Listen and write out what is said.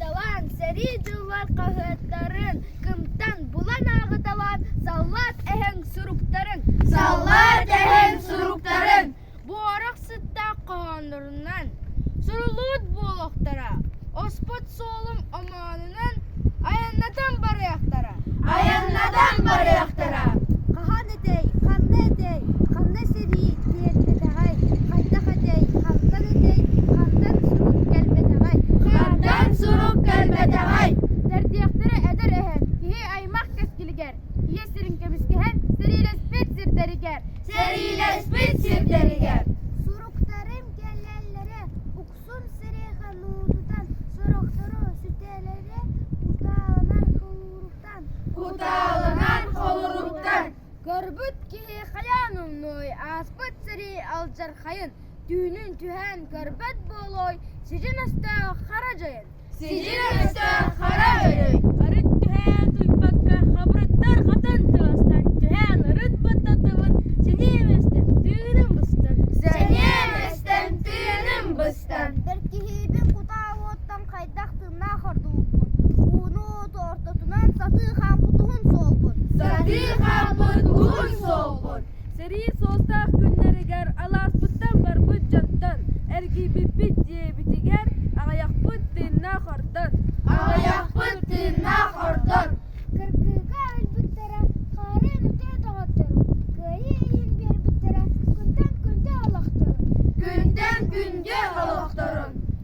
Талан, сэрии дьыллар хаһыаттарын кымтан булан ааҕыталаан саллаат эһэҥ суруктарын Саллаат эһэҥ суруктарын буорах сыттаах хоһооннорунан суруллубут буолуохтара, оспут суолум омоонунан айаннатан барыахтара. Айаннатан барыахтара. ханна этэй ханна сэрии биэрбэтэҕэй хантах этэй хантан этэй хантан сурук кэлбэтэҕэй хантан сурук кэлбэтэҕэй бэрдиэхтэрэ эдэр эһэн киһи аймах кэскилигэр ийэ сирин кэбискэһэн сэриилэспит сирдэригэр сэриилэспит сирдэригэр суруктарым кэлэллэрэ уксун сирэйхэ нуутутан сорохтору сүтэлэрэ утааланар кылууруктар Кутаалынан холоруктар көрбүт киһи хайаан умнуой ааспыт сэрии алдьархайын түүнүн түһээн көрбөт буолуой сидьин өстөөх хара дьайын сидьин өстөөх хара өрөй арыт түһээн туйпакка хабырыттар хатан тыастан түһээн ырыт баттатыбын сэниэм эстэн тыыным быстан сэниэм эстэн тыыным быстан ber kihibin kuta wottang khay хайдах тыыннаах ордубуппун. Ууну ортотунан сатыы хаампытуһун суолбун. Сатыы хаампытуһун суолбун. Сэрии суостаах күннэригэр алааспыттан барбыт дьонтон эргийбиппит диэбитигэр аҕыйахпыт тыыннаах ордон. Аҕыйахпыт тыыннаах ордон. Кыргыыга өлбүттэрэ хаарын үтэ тоҕоттору. Кыайыы илин биэрбиттэрэ күнтэн күндү олохторун. Күнтэн күндү олохторун.